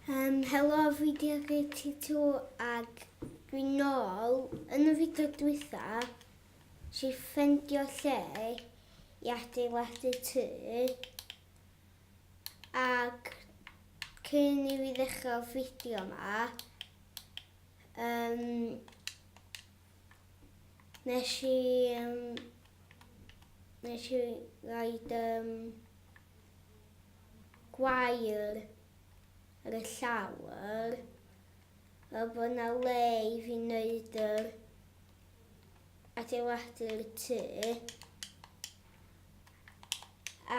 Um, helo, fi di ar GT2 ag dwi'n nôl yn y fideo dwytha si ffendio lle i adeiladu tŷ ag cyn i fi ddechrau'r fideo yma um, Nes i um, nes i roed um, gwair ar y llawr a bod yna le i fi wneud yr adeiladu'r tŷ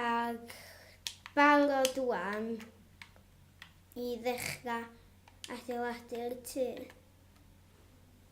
ac barod wan i ddechrau adeiladu'r tŷ.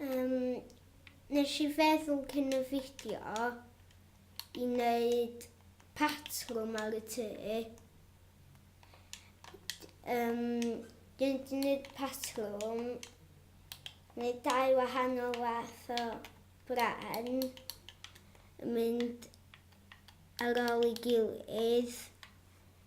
Um, nes i feddwl cyn y fideo i wneud patrwm ar y tŷ. Um, dwi'n gwneud patrwm, neu dau wahanol fath o bren, yn mynd ar ôl ei gilydd.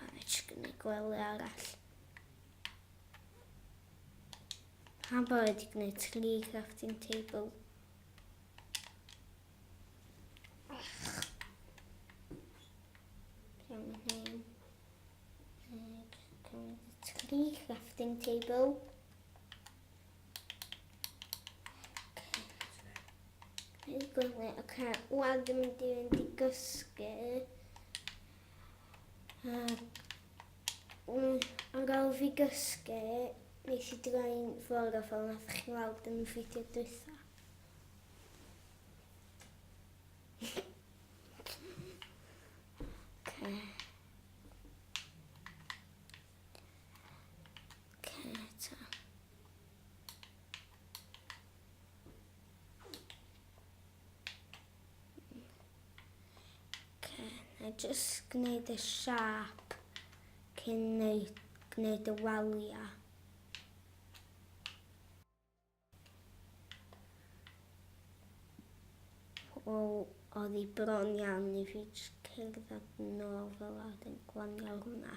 A nes i gwneud gwely arall. Pan bod wedi gwneud tri crafting table. crafting table. Dwi'n gwneud, oce, wan dwi'n mynd i fynd i gysgu. Yn gael fi gysgu, nes i droi'n ffordd o fel nath chi weld yn y fideo dwytha. Oce, na i jyst gwneud y siap cyn neud, gwneud y waliau. O, oedd hi bron iawn i fi jyst cerdded nôl fel a wedyn glanio hwnna.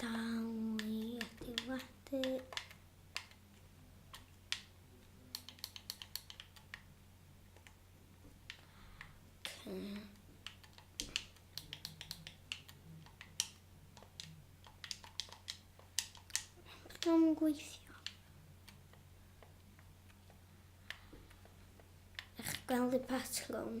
Dangli actifadu. Dwi'n gweithio. Eich gweld y patrwm.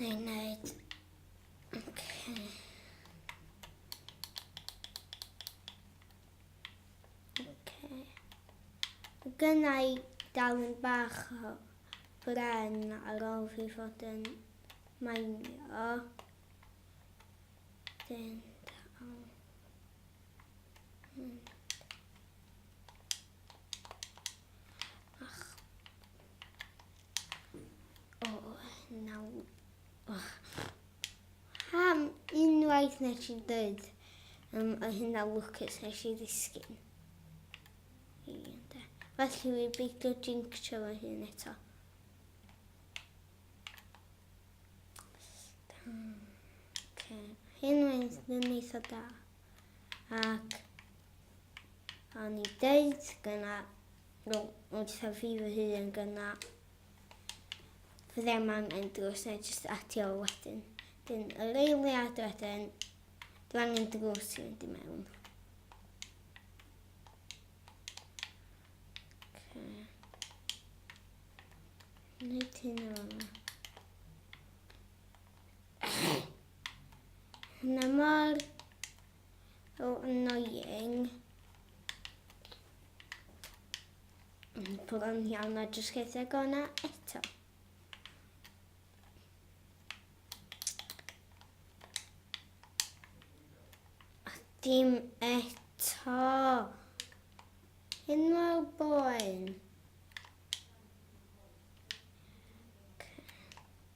Neu wneud... Okay. Okay. Gynna i darlun bach o bren ar ôl fi fod yn mainio. Dyn... Ach. O, naw. Oh. Ham unwaith nes i dweud um, o hynna Lucas nes i ddisgyn. Felly fi beidio jinxio fy hun eto. Hyn mae'n eitha da. ac o'n i deud gyna nhw wrtha fi fy hun gyna fy ddim angen drws neu jyst atio wedyn. Dyn yr eiliad wedyn, dwi angen drws i fynd i mewn. Okay. Wneud hyn o fanna. Na mor oh, annoying. Pwrwn iawn a jyst geith e gona eto. A dim eto. Hyn mor boen.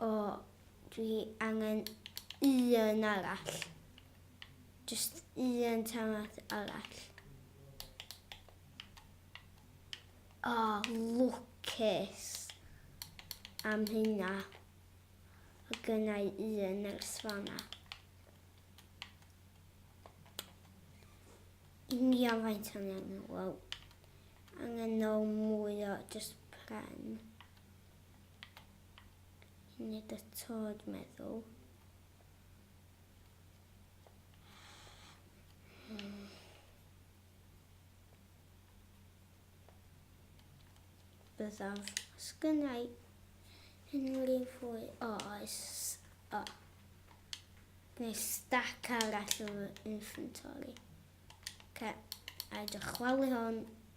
O, dwi angen un arall. Just un tamat arall. O, oh, lwcus am hynna. O gynnau un nyrs fanna. Union faint o'n angen, wow. Angen o mwy o just pren. Nid y tod meddwl. Byddaf. Sgynnau unrhyw fwy oes. O. Neu stac arall o inventory. Okay. A dychwalu hon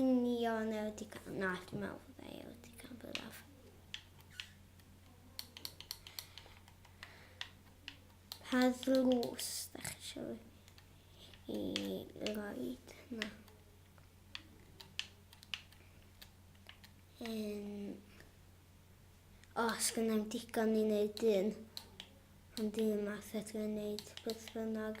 union e wedi cael... Na, dwi'n meddwl bod e wedi cael byddaf. Pa ddlws da chi eisiau i roed? Na. Um, o, os gynnau'n digon i wneud un. Ond un math ydw i'n wneud beth bynnag.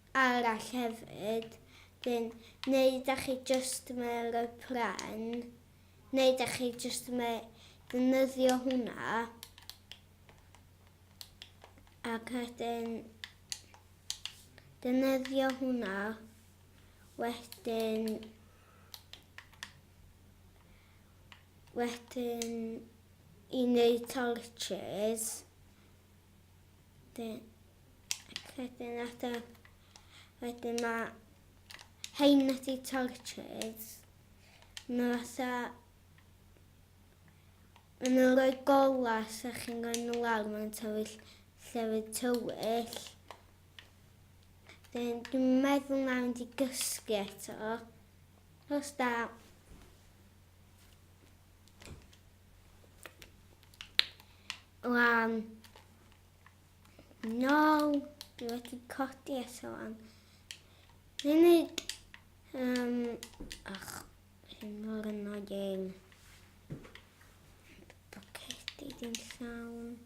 arall hefyd dyn neu dach chi jyst ma roi pren neu dach chi jyst ma ddefnyddio hwnna ac wedyn defnyddio hwnna wedyn wedyn i neud torches Wedyn, wedyn ata, wedyn ma hein wedi torches. Nhw ata, maen nhw'n rhoi golas a chi'n rhoi nhw lawr, maen nhw'n tywyll llefydd tywyll. Wedyn, dwi'n meddwl na fynd i gysgu eto. Os da, lan No, dwi wedi codi eto am munud. Um, ach, hyn mor annoying. Bocedi dim llawn.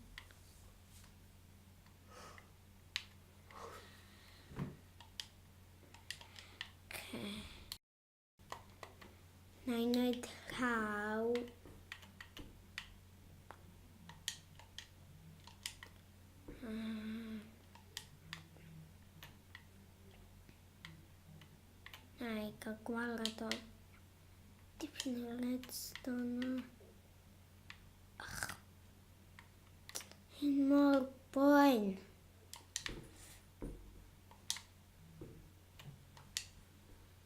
Na i wneud rhaw. Hmm. Na i gael gwared o dipyn o redstone. Ach, hyn mor boen.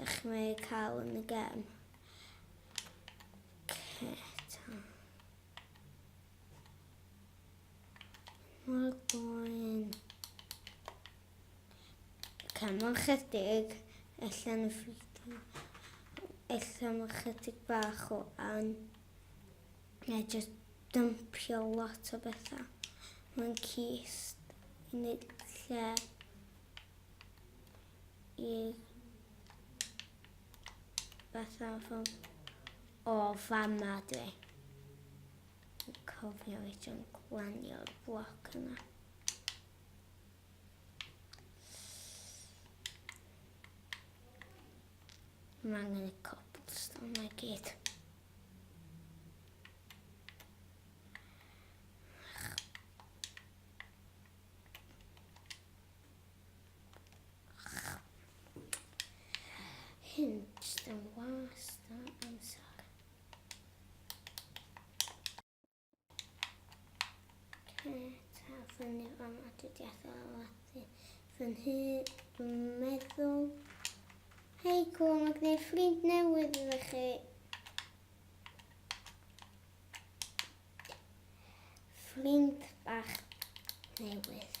Ych mae cael yn y gem. Ceta. Mor boen. Cymon chydig, allan y ffridio. Allan y chydig bach o an. Neu jyst dympio lot o bethau. Mae'n cist i wneud lle o fama dwi. Cofio i ti'n glanio'r bloc yna. Mae angen y cobblestone na gyd. Hints am wast a amser. Peta fyny fan atydiaeth a lati fy nhŷ, dwi'n meddwl. Hei cwl, mae gwneud ffrind newydd iddo chi. Ffrind bach newydd.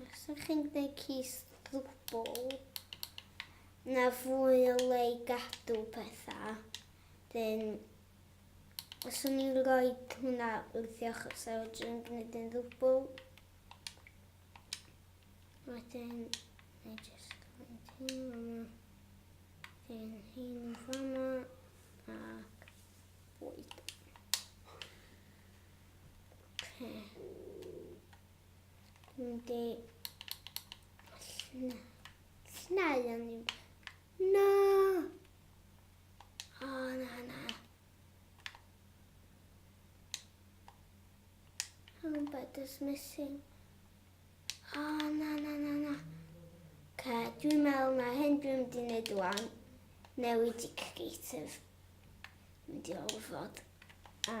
Os ydych chi'n gwneud cys ddwbl, na fwy o le i gadw pethau. Dyn, os o'n i'n rhoi hwnna wrth i ochr sef o dwi'n gwneud yn ddwbl. Wedyn, na i jyst gwneud hyn yma. Dyn hyn yn fama ac bwyd. Yndi. Snau yn ddim. Na! O, na, na. Helmet is missing. O, na, na, na, na. Ca, dwi'n meddwl na hyn dwi'n mynd i wneud wan. Newid i creative. Mynd i olfod. A,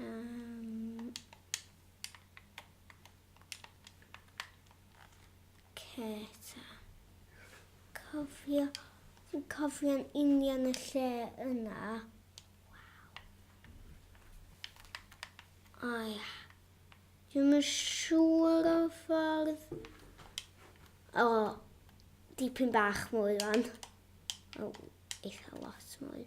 Um, Ceta. Cofio, fi'n cofio'n union y lle yna. O ia. Dwi'n yn siŵr o ffordd. O, dipyn bach mwy fan. O, eitha lot mwy.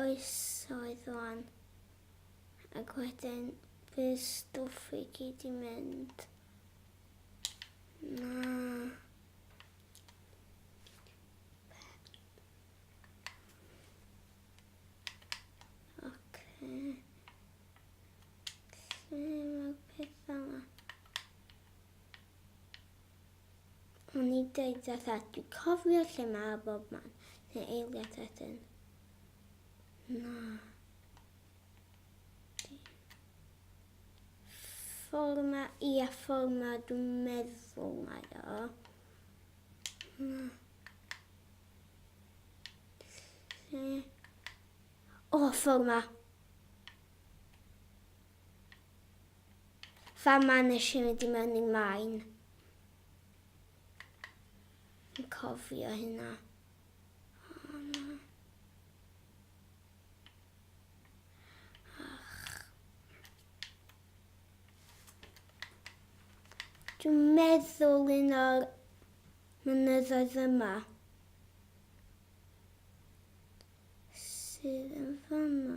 oesoedd wan. Ac wedyn bydd stwff i gyd i mynd. Na. O'n i'n deud a thad, dwi'n cofio lle mae a bob man, neu eiliad wedyn. Na. Ffordd ma, ia, ffordd ma, dwi'n meddwl mae o. Na. Lle? O, ffordd ma. Fama nes i mynd i mewn i maen. Yn cofio hynna. Dwi'n meddwl un o'r mynyddoedd yma sydd yn fama.